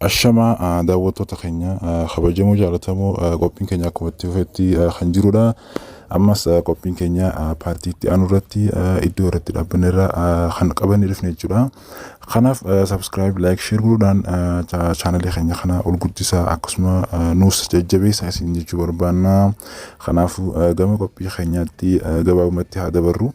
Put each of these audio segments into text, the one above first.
Ashamaa ah, daawwattoota keenya ah, kabajamoo jaalatamoo ah, qophiin keenya akkuma itti fufetti ah, kan jirudha. Ammas ah, qophiin keenya ah, paartii itti aanu irratti ah, iddoo irratti dhaabbanne irra ah, kan qabannee dhufne jechuudha. Kanaaf subscribe, like, share godhuudhaan ah, cha- chaanalii keenya kana ol guddisaa akkasuma ah, nuus jajjabeessaa isin jechuu barbaanna. Kanaafuu ah, gama qophii keenyaatti ah, gabaabumatti haa dabarru.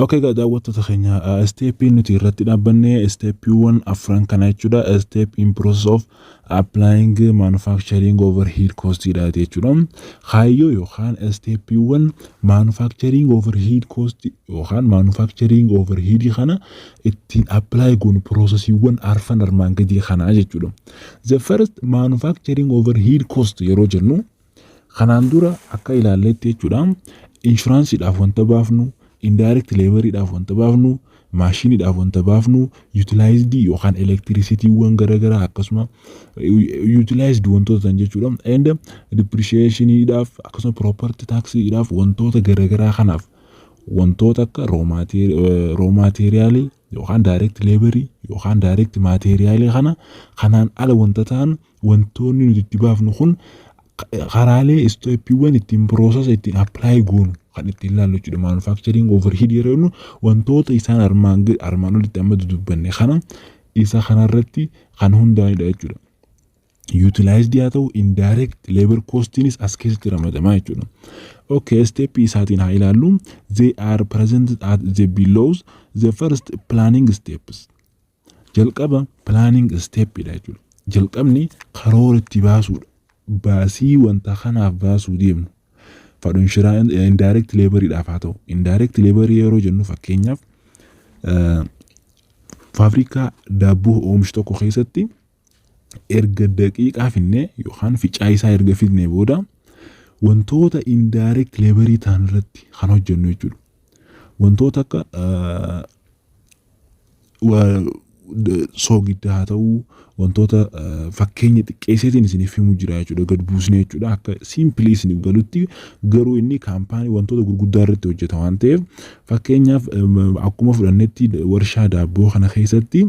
Ok egaa daawwattoota keenya isteeppiin nuti irratti dhaabbanne isteeppiiwwan afran kana jechuudha. Isteep in process of applying manufacturing overhead cost dha jechuudha. Kaayyoo yookaan isteeppiiwwan manufacturing overhead cost yookaan manufacturing overhead kana ittiin apply goonu piroosesiiwwan arfan armaan gadii kanaa jechuudha. The first manufacturing overhead cost yeroo jennu kanaan dura akka ilaalletti jechuudha inshuraansiidhaaf wanta baafnu indirect laboriidhaaf wanta baafnu maashiniidhaaf wanta baafnu utilized yookaan elektirisitiiwwan garaagaraa akkasuma utilized wantoota ta'an jechuudha and depreciationiidhaaf akkasuma property taxiidhaaf wantoota garaagaraa kanaaf wantoota akka roo maateeriyaalii yookaan daayireekti leebarii yookaan daayireekti maateeriyaalii kana kanaan ala wanta ta'an wantoonni nuti itti baafnu kun karaalee isteeppiiwwan ittiin piroosesa ittiin appilaayi goonu kan ittiin ilaallu jechuudha. Maanufaakchariing overhead yeroo jennu wantoota isaan armaan gad- armaan olitti amma dudubbanne kana isa kanarratti kan hundaa'edha jechuudha. utilized yaa ta'u indirect labor costiinis as keessatti ramadamaa jechuudha. Okay, step isaatiin haa ilaallu. They are presented at the belows the first planning steps. Jalqaba planning step dha jechuudha. Jalqabni karoora itti baasuudha. Baasii wanta kanaaf baasuu deemnu. Fadhu inshiraa indirect labor dhaaf haa ta'u. Indirect labor yeroo jennu fakkeenyaaf faabrikaa daabboo oomishu tokko keessatti erga daqiiqaa finnee yookaan ficaa isaa erga fidnee booda wantoota indirect leebarii ta'an irratti kan hojjennu jechuudha. Wantoota akka ah, wa- d- soogidda haa ta'uu wantoota ah, fakkeenya xiqqeesseetiin isiniif himu jira jechuudha gad buusnee jechuudha akka simpilii isiniif galutti garuu inni kaampaanii wantoota gurguddaa irratti hojjeta waan ta'eef Fakkeenyaaf akkuma fudhannetti warshaa daabboo kana keessatti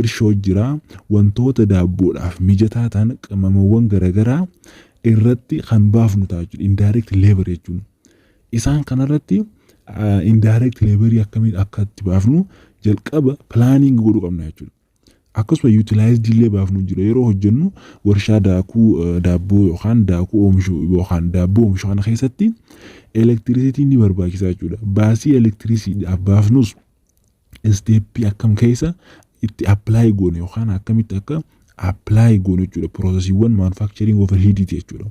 irshoo jira. Wantoota daabboodhaaf mijataa ta'an qimamawwan garaagaraa irratti kan baafnu ta'a jechuudha. Indirect labor jechuun. Isaan kanarratti indirect laborii akkamiin akka itti baafnu jalqaba planning godhuu qabna jechuudha. Akkasuma utilized illee baafnu jira yeroo hojjennu warshaa daakuu eh, daabboo yookaan daakuu oomishu yookaan daabboo oomishu kana keessatti elektirisitiin ni barbaachisaa jechuudha. Baasii elektirisiidhaaf baafnus isteeppii akkam keessa itti appilaayi goone yookaan akkamitti akka appilaayi goone jechuudha. Piroosesiiwwan maanufaakchariing overheediiti jechuudha.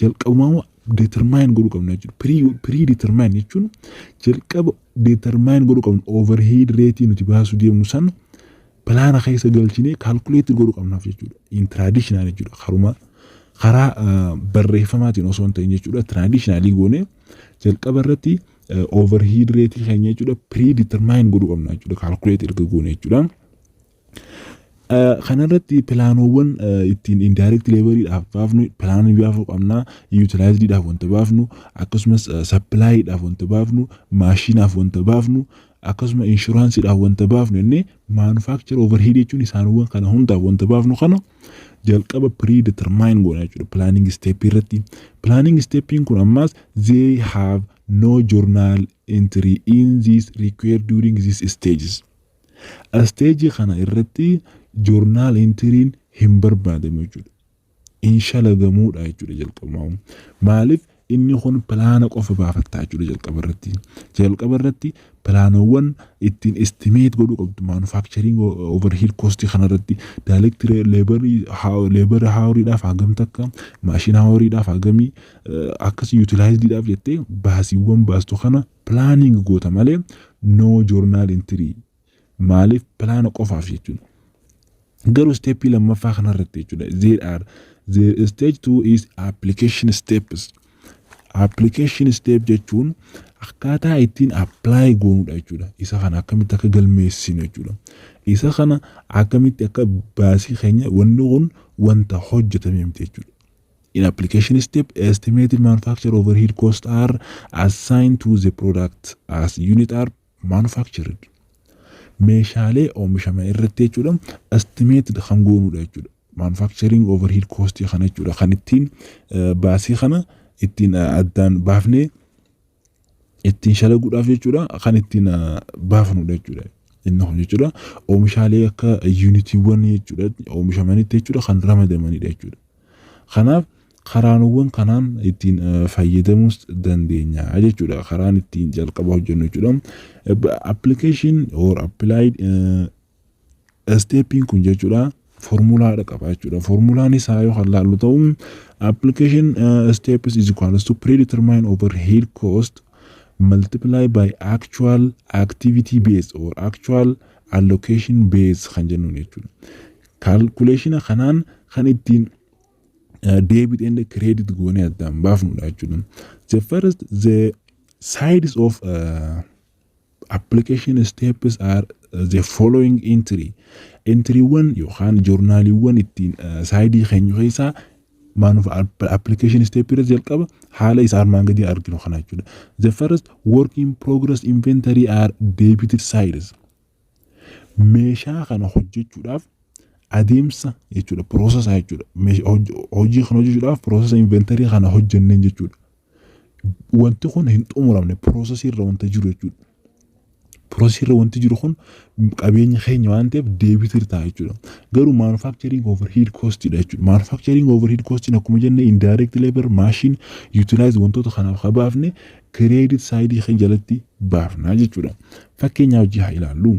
jalqabumaama determine godhuu qabna jechuudha. Pre determine jechuun jalqaba determine godhuu qabna overhead rate nuti baasuu deemnu san pilaana keessa galchinee calculate godhuu qabnaaf jechuudha. In traditional jechuudha. Karuma karaa barreeffamaatiin osoo hin ta'in jechuudha. Traditionally goonee jalqaba irratti overhead rate keenya jechuudha pre determine godhuu qabna jechuudha. Calculate erga goone jechuudha. Kanarratti pilaanoowwan ittiin indirect labor dhaaf baafnu pilaanii baafuu qabna utilized dhaaf wanta baafnu akkasumas supply dhaaf wanta baafnu maashinaaf wanta baafnu akkasuma insurance dhaaf wanta baafnu jennee manufacture overhead jechuun isaanowwan kana hundaaf wanta baafnu kana jalqaba pre determine goona jechuudha planning step irratti planning steppiin kun ammaas they have no journal entry in this required during this stages Stage kana irratti journal entry'n hin barbaadamu jechuudha. Hin shalagamuudha jechuudha jalqabumaa'uu. Maaliif inni kun pilaana qofa baafatta jechuudha jalqaba irratti. Jalqaba irratti pilaanowwan ittiin estimate godhuu qabdu manufacturing overhead cost kana irratti direct labor labor hour'dhaaf hagam takka machine hour'dhaaf hagamii akkas utilized'dhaaf jettee baasiiwwan baastu kana Planning goota malee no journal entry. Maaliif plaana qofaaf jechuudha. Garuu steppii lammaffaa kanarratti jechuudha. There are the stage two is application steps. Application step jechuun akkaataa ittiin apply goonudha jechuudha. Isa kana akkamitti akka galmeessinu jechuudha. Isa kana akkamitti akka baasii keenya wanni kun wanta hojjetame miti jechuudha. In application step, estimated manufacture overhead cost are assigned to the product as unit are manufactured. Meeshaalee oomishaman irratti jechuudha estimated kan goonudha jechuudha. Manufacturing overhead cost kana jechuudha kan ittiin baasii kana ittiin addaan baafnee ittiin shalaguudhaaf jechuudha kan ittiin baafnudha jechuudha. Inni kun jechuudha oomishaalee akka yuunitiiwwan jechuudha oomishamanitti jechuudha kan ramadamanidha jechuudha. Kanaaf karaanowwan kanaan ittiin fayyadamuus dandeenya jechuudha. Karaan ittiin jalqaba hojjennu jechuudha. Application or applied Isteeppiin kun jechuudha formulaadha qaba jechuudha. Formulaan isaa yoo kan laallu ta'u application uh, steps is equal to predetermine overhead cost multiply by actual activity base or actual allocation base kan jennuun jechuudha. Kaalkuleeshina kanaan kan ittiin debit and credit goonee addaan baafnudha jechuudha. The first the sides of uh, Application steps are the following entry entiriiwwan yookaan joornaaliiwwan ittiin saayidii keenya keessaa maanuuf application step irra jalqaba haala isa armaan gadii arginu kana jechuudha. The first work in progress inventory are debited sides. Meeshaa kana hojjechuudhaaf adeemsa jechuudha process jechuudha. Hojii kana hojjechuudhaaf process inventory kana hojjenneen jechuudha. Wanti kun hin xumuramne piroosesii irra wanta jiru jechuudha. Piroosesii irra wanti jiru kun qabeenya keenya waan ta'eef deebiitu irra ta'a jechuudha. Garuu manufacturing overhead cost dha jechuudha. Manufacturing overhead cost akkuma jenne indirect labor, machine, utilize wantoota kanaaf ka baafne credit side keenya jalatti baafna jechuudha. Fakkeenyaa hojii haa ilaallu.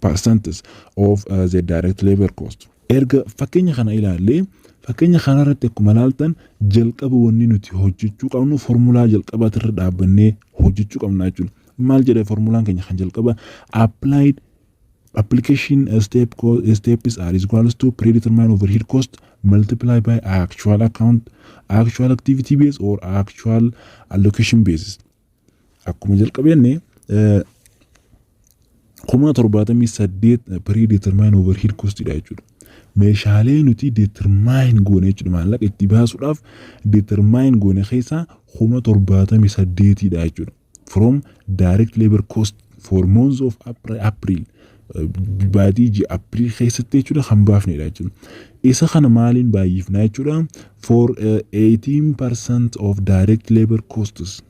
percents of uh, the direct labor cost. Erga fakkeenya kana ilaallee fakkeenya kanarratti akkuma ilaaltan jalqaba wanni nuti hojjechuu qabnu formulaa jalqabaati irra dhaabbannee hojjechuu qabna jechuudha. Maal jedha formulaan keenya kan jalqaba applied application step co- steps are is equals to predetermined overhead cost multiply by actual account actual activity base or actual allocation basis. Akkuma jalqabeenni kuma torbaatamii saddeet pirii determine overhead costidha jechuudha. Meeshaalee nuti determine goone jechuudha maallaqa itti baasuudhaaf determine goone keessaa kuma torbaatamii saddeetidha jechuudha. From direct labor cost for months of April baatii ji'a April keessatti jechuudha kan baafnedha jechuudha. Isa kana maaliin baay'ifnaa jechuudha? For uh, 18% of direct labor costs.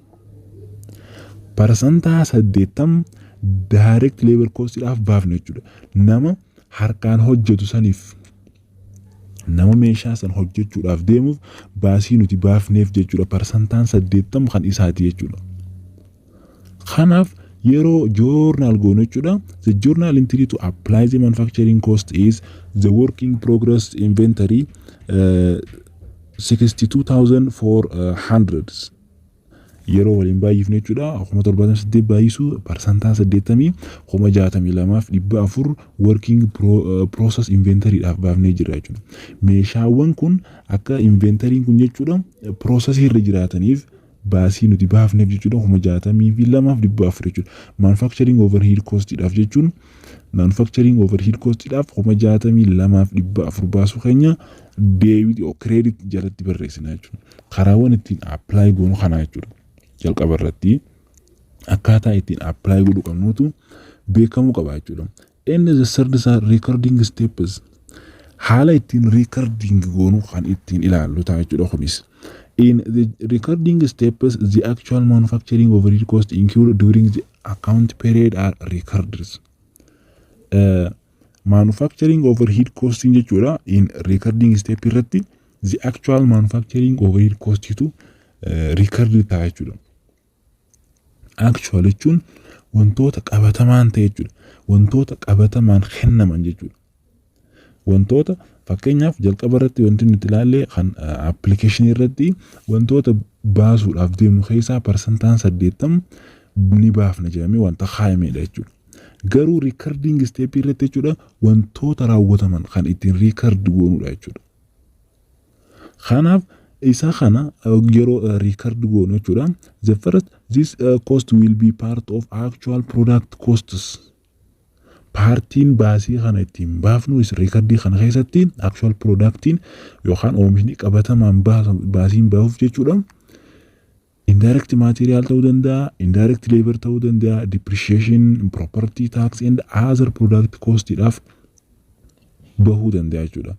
Parsantaa 80 direct labor costidhaaf baafna jechuudha. Nama harkaan hojjetu saniif Nama meeshaa san hojjachuudhaaf deemuuf baasii nuti baafneef jechuudha parsantaan 80 kan isaati jechuudha. Kanaaf yeroo joornaal goonu jechuudha the journal entry to apply the manufacturing cost is the work in progress inventory uh, 62,400 yeroo waliin baay'ifnu jechuudha. Kuma torbaatamii saddeet baay'isuu parsantaa saddeettamii kuma jaatamii lamaaf dhibba afur working process inventory dhaaf baafnee jirra jechuudha. Meeshaawwan kun akka inventariin kun jechuudha process irra jiraataniif baasii nuti baafneef jechuudha kuma jaatamii fi lamaaf dhibba afur jechuudha. Manufacturing overhead cost dhaaf jechuun manufacturing overhead cost dhaaf kuma jaatamii lamaaf dhibba afur baasuu keenya deebiti credit jalatti barreessina jechuudha. karaawwan ittiin apply goonu kanaa jechuudha. Jalqaba irratti akkaataa ittiin apply godhu qabnuutu beekamuu qaba jechuudha. Inni the third is recording steps haala ittiin recording goonu kan ittiin ilaallu ta'a jechuudha kunis. In the recording steps, the actual manufacturing of real cost incurred during the account period are recorded. Uh, Manufacturing overhead costing jechuudha in recording step irratti the actual manufacturing overhead cost tu eh, record ta'a jechuudha. Actual jechuun wantoota qabatamaan ta'e jechuudha. Wantoota qabatamaan kennaman jechuudha. Wantoota fakkeenyaaf jalqaba irratti wanti nuti ilaalle kan appilikeeshinii irratti wantoota baasuudhaaf deemnu keessaa parsantaan saddeettamu ni baafna jedhamee wanta kaa'amedha jechuudha. Garuu recording step irratti jechuudha wantoota raawwataman kan ittiin record goonudha jechuudha. Kanaaf isa kana yeroo record goonu jechuudha. The first this cost will be part of actual product costs. Paartiin baasii kana ittiin baafnu reekardii kana keessatti actual productiin yookaan oomishni qabatamaan baasiin baasuuf jechuudha. Indirect material ta'uu danda'a, indirect labor ta'uu danda'a, depreciation, property tax and other product cost dhaaf bahuu danda'a jechuudha.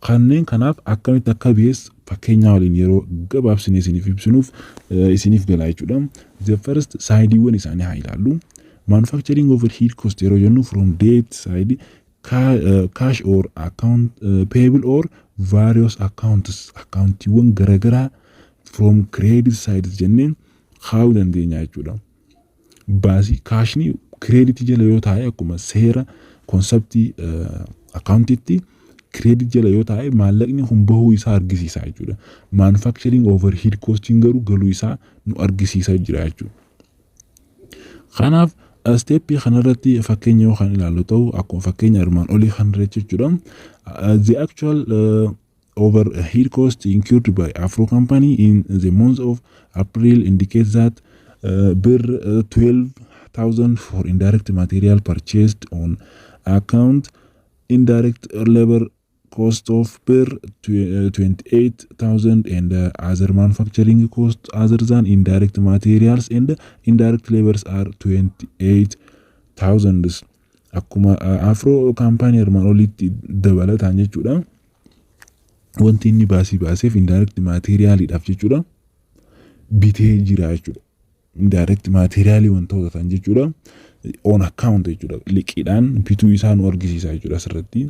Kanneen kanaaf akkamitti akka bees fakkeenyaa waliin yeroo gabaabsinee isiniif ibsinuuf eh, isiniif galaa jechuudha. The first saayidiiwwan isaanii haa ilaallu. Manufacturing overhead cost yeroo jennu from debt side cash or account payable or various accounts akkaawuntiiwwan garagaraa from credit sides jennee kaa'uu dandeenya jechuudha. Baasii kaashni credit jala yoo taa'e akkuma seera konseptii akkaawuntiitti credit jala yoo taa'e maallaqni kun bahuu isaa argisiisa jechuudha. Manufacturing overhead costiin garuu galuu isaa nu argisiisa jira jechuudha. Kanaaf steppii kanarratti fakkeenya yoo kan ilaallu ta'u akkuma fakkeenya armaan olii kanarratti jechuudha. The actual uh, overhead cost incurred by Afro company in the month of April indicates that uh, bir uh, 12,000 for indirect material purchased on account indirect labor cost of per 28,000 and other manufacturing cost other than indirect materials and indirect labors are 28,000 akkuma afro kaampaanii armaan olitti dabalataan jechuudha wanti inni baasii baaseef indirect materialiidhaaf jechuudha bitee jira jechuudha indirect material wantoota ta'an jechuudha. On account jechuudha. Liqiidhaan bituu isaa nu argisiisa jechuudha asirratti.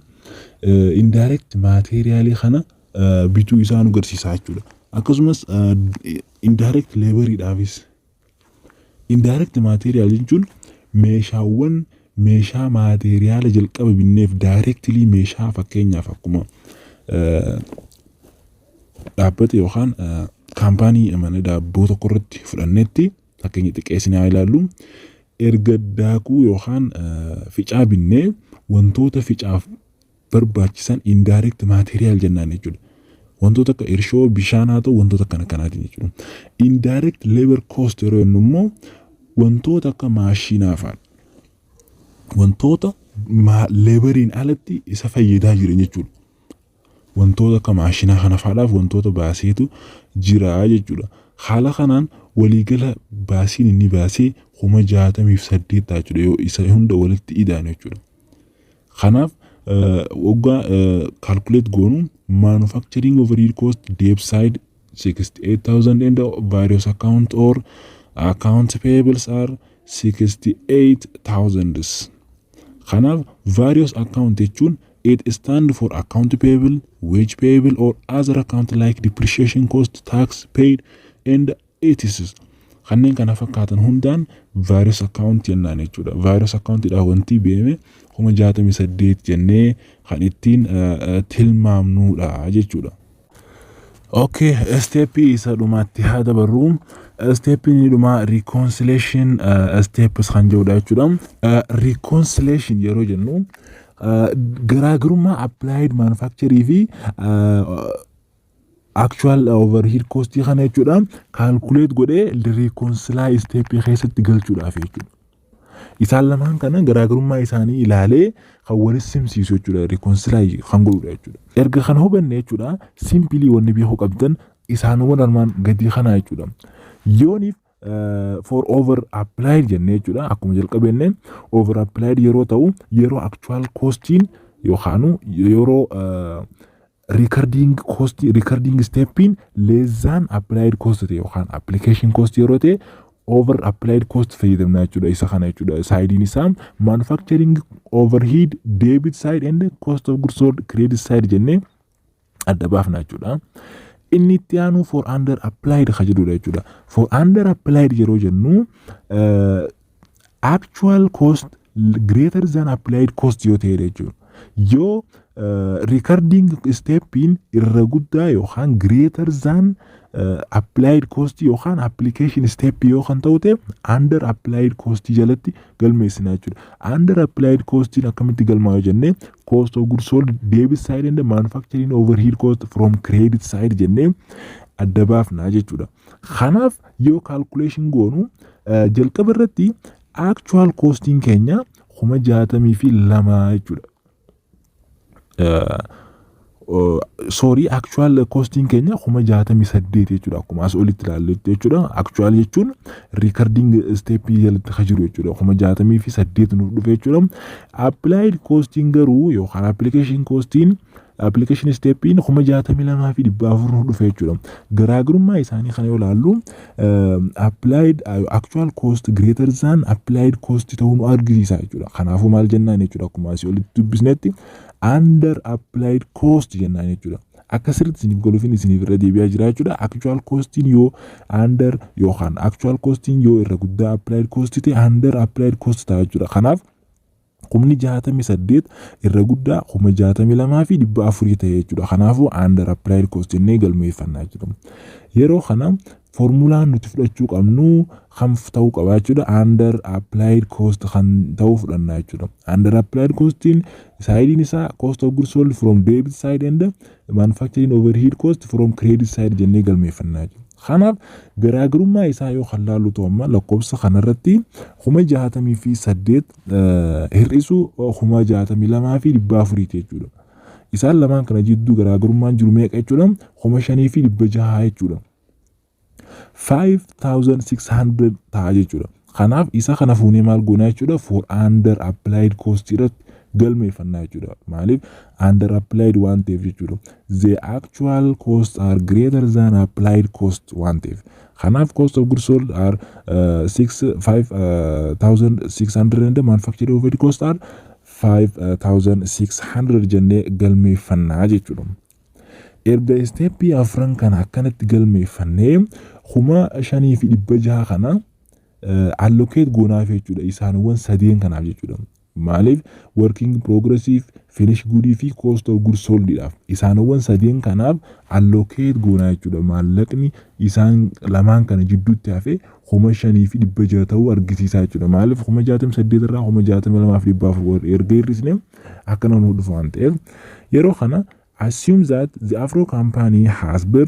Eh, Indirect material kana eh, bituu isaa nu garsiisa jechuudha. Akkasumas eh, indirect laboriidhaafis Indirect material jechuun meeshaawwan meeshaa maateeriyaala jalqaba binneef directly meeshaa fakkeenyaaf akkuma eh, dhaabbata yookaan kaampaanii mana daabboo tokko irratti fudhannetti fakkeenya xiqqeessinee haa ilaallu erga daakuu yookaan ficaa binnee wantoota ficaaf barbaachisan indirect material jennaan jechuudha. Wantoota akka irshoo bishaan haa ta'u wantoota akkana kanaatiin jechuudha. Indirect labor cost yeroo jennu immoo wantoota akka maashinaa fa'a wantoota leebariin alatti isa fayyadaa jiran jechuudha. Wantoota akka maashinaa kana faadhaaf wantoota baaseetu jira jechuudha. Haala kanaan waliigala baasiin inni baasee kuma jaatamii fi saddeet ta'a jechuudha yoo isa hunda walitti ida'an jechuudha. Kanaaf waggaa calculate goonu manufacturing overhead cost debt side 68,000 and various account or account payables are 68,000. Kanaaf various account jechuun it stand for account payable, wage payable or other account like depreciation cost, tax paid and etc. Kanneen kana fakkaatan hundaan various account jennaan jechuudha. Various account dha wanti beeme kuma jaatamii saddeet jennee kan ittiin tilmaamnuudha jechuudha. Okay, isteeppii isa dhumaatti haa dabarru. Isteeppiin inni dhumaa reconciliation uh, steps kan jedhudha jechuudha. Uh, reconciliation yeroo jennu uh, garaagarummaa applied manufacturing fi uh, actual overhead cost kana jechuudha calculate godhee reconcile step keessatti galchuudhaaf jechuudha. Isaan lamaan kana garaagarummaa isaanii ilaalee kan walis simsiisu jechuudha. Rikoonsilaayi kan godhudha jechuudha. Erga kana hubanne jechuudha simpilii wanni beekuu qabdan isaanowwan armaan gadii kanaa jechuudha. Yooniif for over applied jennee jechuudha akkuma jalqabenne over applied yeroo ta'u yeroo actual costiin yookaanu yeroo Recording cost, recording steppiin less than applied cost ta'e yookaan application cost yeroo ta'e over applied cost fayyadamna jechuudha isa kana jechuudha saayidiin isaa manufacturing overhead debit side and cost of goods sold credit side jennee adda baafna jechuudha. Inni itti aanu for under applied ka jedhudha jechuudha. For under applied yeroo jennu actual cost greater than applied cost yoo ta'e jechuudha. Yoo recording steppiin irra guddaa yookaan greater than applied cost yookaan application step yoo kan ta'u ta'e under applied cost jalatti galmeessina jechuudha. Under applied costiin akkamitti galmaa'u jennee cost of goods sold debit side and manufacturing overhead cost from credit side jennee adda baafna jechuudha. Kanaaf yoo calculation goonu Jalqaba irratti actual costing keenya kuma jaatamii fi lama jechuudha. Sorry actual costing keenya kuma jaatamii saddeet jechuudha akkuma as olitti ilaalletti jechuudha. Actual jechuun recording step jalatti kan jiru jechuudha kuma jaatamii fi saddeet nuuf dhufe jechuudha. Applied costing garuu yookaan application costing Application steppiin kuma jaatamii lamaa fi dhibba afur nu dhufe jechuudha. Garaagarummaa isaanii kana yoo ilaallu applied actual cost greater than applied cost ta'uu nu argisiisa jechuudha. Kanaafuu maal jennaan jechuudha akkuma asii olitti dubbisnetti under applied cost jennaan jechuudha. Akka sirriitti isiniif galuufin isiniif irra deebi'aa jira jechuudha. Actual costiin yoo under yookaan actual costiin yoo irra guddaa applied cost ta'e under applied cost ta'a jechuudha. Kanaaf kumni 68 irra guddaa 62,400 ta'e jechuudha. Kanaafuu under applied cost jennee galmeeffanna jechuudha. Yeroo kana foormulaan nuti fudhachuu qabnu kan ta'uu qaba jechuudha. Under applied cost kan ta'uu fudhanna jechuudha. Under applied costiin saayidiin isaa cost of goods sold from debit side and manufacturing overhead cost from credit side jennee galmeeffanna jechuudha. Kanaaf garaagarummaa isaa yoo kan laallu ta'u amma lakkoofsa kanarratti kuma jaatamii fi saddeet hir'isuu 62,400 ti jechuudha. Isaan lamaan kana jidduu garaagarummaan jiru meeqa jechuudha? 5,600 jechuudha. 5,600 ta'a jechuudha. Kanaaf isa kana fuunee maal goonaa jechuudha? For under applied cost irratti galmeeffannaa jechuudha. Maaliif? Under applied waan ta'eef jechuudha. The actual cost are greater than applied cost waan ta'eef. Kanaaf cost of goods sold are uh, 6 5600 and manufactured overhead cost are 5600 jennee galmeeffannaa jechuudha. Erga isteeppii afran kana akkanatti galmeeffannee kuma shanii fi dhibba jaha kana allocate goonaaf jechuudha isaanwwan sadeen kanaaf jechuudha. Maaliif? Working progressiif, finish good fi cost of good sold dhaaf. Isaanowwan sadeen kanaaf allocate goona jechuu dha. Maallaqni isaan lamaan kana jidduutti hafe 5600 ta'uu argisiisaa jechuu dha. Maaliif 68,000 irraa 62,400 erga hir'isne akkana nuu dhufa waan ta'eef. Yeroo kana assume that the afro company has bir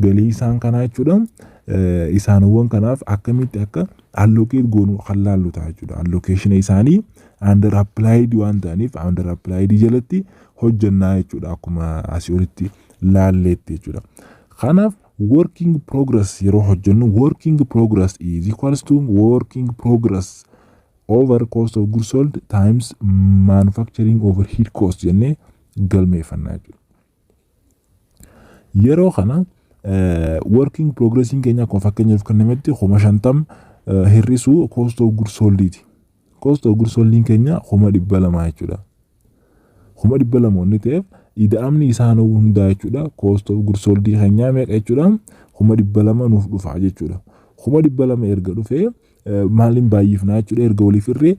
Galii isaan kanaa jechuudha isaanowwan kanaaf akkamitti akka allocate goonu kan laallu ta'a jechuudha. Allocation isaanii under applied waan ta'aniif under applied jalatti hojjannaa jechuudha akkuma asii olitti laalleetti jechuudha. Kanaaf working progress yeroo hojjennu working progress is equals to working progress over cost of goods sold times manufacturing overhead cost jennee galmeeffannaa jechuudha. Yeroo kana working progressiin keenya akkuma fakkeenyaaf kennametti kuma shantam hir'isuu cost of goods sold'iti. Cost of goods sold'iin keenya kuma dhibba lama jechuudha. Kuma dhibba lama wanni ta'eef ida'amni isaa nu hundaa jechuudha. Cost of goods sold'ii keenyaa meeqa jechuudha? Kuma dhibba lama nuuf dhufa jechuudha. Kuma dhibba lama erga dhufee maaliin baay'ifnaa jechuudha erga waliif hirree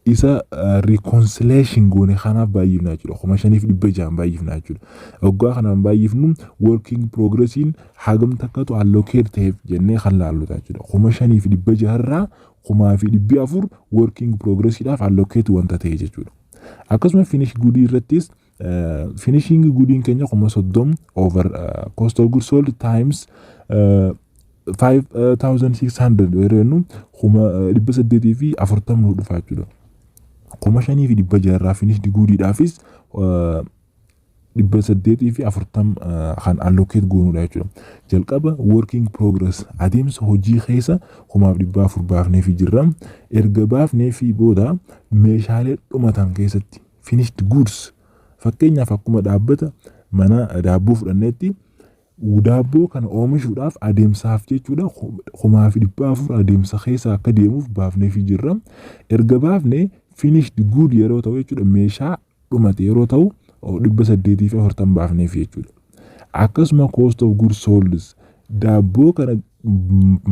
isa reconciliation goone kanaaf baay'ifnaa jechuudha. Kuma shaniif dhibba ja'an baay'ifnaa jechuudha. Oggaa kanaan baay'ifnu working progressiin hagam takkatu allocate ta'eef jennee kan laallu ta'a jechuudha. Kuma shaniif dhibba jaharraa kumaa fi dhibbi afur working progressiidhaaf allocate wanta ta'e jechuudha. Akkasuma finish good irrattis Finishingi gudiin keenya kuma soddom over cost of goods sold times 5600 yoo jennu kuma dhibba saddeetii fi afurtam nu dhufa jechuudha. Kuma shanii fi dhibba jaarraa finishdi guudiidhaafis dhibba saddeetii fi afurtam kan allocate goonudha jechuudha. Jalqaba working progress adeemsa hojii keessa kumaaf dhibba afur baafneefi jirra. Erga baafneefi booda meeshaalee dhumatan keessatti finished goods fakkeenyaaf akkuma dhaabbata mana daabboo fudhanneetti daabboo kana oomishuudhaaf adeemsaaf jechuudha kumaa fi dhibbaa afur adeemsa keessa akka deemuuf baafneefi jirra. Erga baafne finished good yeroo ta'u jechuudha meeshaa dhumate yeroo ta'u dhibba saddeetii fi afurtan baafneefi jechuudha. Akkasuma cost of goods solds daabboo kana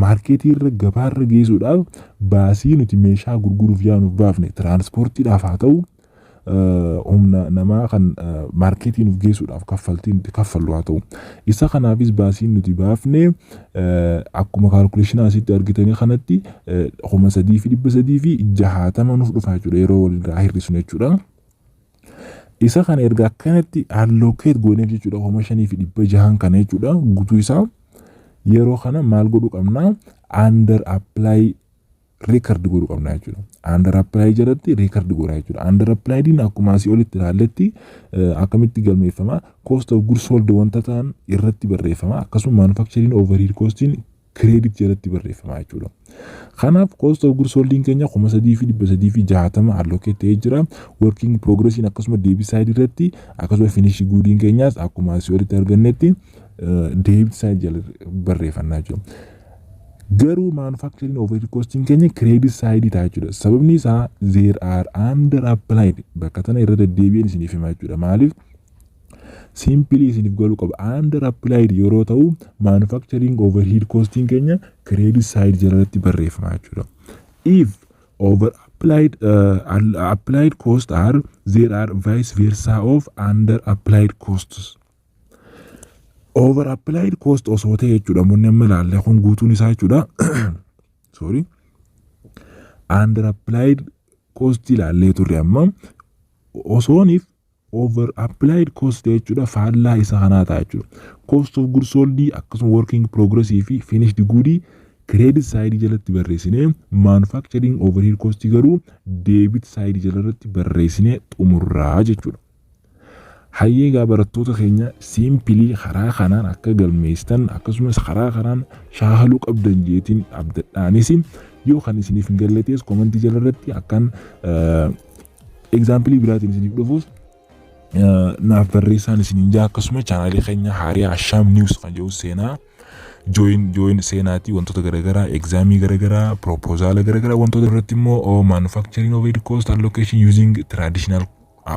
maarkeetii irra gabaa irra geessuudhaaf baasii nuti meeshaa gurguruuf yaanuuf baafne tiraansportiidhaaf haa ta'u humna namaa kan maarkeetii nuuf geessuudhaaf kaffaltii nuti kaffallu haa ta'u isa kanaafis baasiin nuti baafne akkuma kaalkuleeshinaa asitti argitanii kanatti kuma sadii fi dhibba sadii fi jahaatama nuuf dhufa jechuudha yeroo walirraa hir'isnu jechuudha. Isa kana erga akkanatti allocate gooneef jechuudha kuma shanii fi dhibba jahan kana jechuudha guutuu isaa yeroo kana maal godhuu qabna under apply record godhuu qabna jechuudha. Under apply jalatti record godha jechuudha. Under apply din akkuma asii olitti ilaalletti eh, akkamitti galmeeffama cost of goods sold wanta ta'an irratti barreeffama akkasuma manufacturing overhead costiin credit jalatti barreeffama jechuudha. Kanaaf cost of goods sold keenya kuma sadii fi dhibba sadii fi jaatama allocate ta'ee jira. Working progress akkasuma debit side irratti akkasuma finish good keenyaas akkuma asii olitti argannetti debit side jala barreeffannaa jiru. Garuu manufacturing overhead cost keenya credit side ta'a jechuudha. Sababni isaa there are under applied bakka tana irra deddeebi'een isiniif himaa jechuudha. Maaliif? Simpilii isiniif galuu qaba. Under applied yeroo ta'u manufacturing overhead costing keenya credit side jalatti barreeffama jechuudha. If over applied uh, applied cost are there are vice versa of under applied costs. Over applied cost osoo ta'e jechuudha munni amma ilaalle kun guutuun isaa jechuudha. Sorry. Under applied cost ilaallee turre amma osooniif over applied cost ta'e jechuudha faallaa isa kanaa ta'a jechuudha cost of goods sold akkasuma working progress fi finished good credit side jalatti barreessine manufacturing overhead cost garuu debit side jalarratti barreessine xumurraa jechuudha. Hayyee egaa barattoota keenya siimpilii karaa kanaan akka galmeessitan akkasumas karaa kanaan shaakaluu qabdan jeetiin abdadhaanis yoo kan isiniif hin galletees komantii jalarratti akkan Egzaampilii biraatiin isiniif dhufuus naaf barreessaan isiniin jaa akkasuma chaanaalii keenya haariyaa Ashaam Niiws kan jedhu seenaa jooyin jooyin seenaatii wantoota garaagaraa egzaamii garaagaraa piroopozaala garaagaraa wantoota irratti immoo maanufakchariin oveed koost allokeeshin yuuziing tiraadishinaal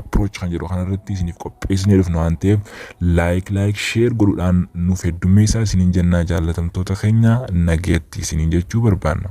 approach kan jedhu kanarratti isiniif qopheessinee dhufnu waan ta'eef laayik laayik sheer godhuudhaan nuuf heddummeessaa isiniin jennaa jaallatamtoota keenya nageetti isiniin jechuu barbaanna.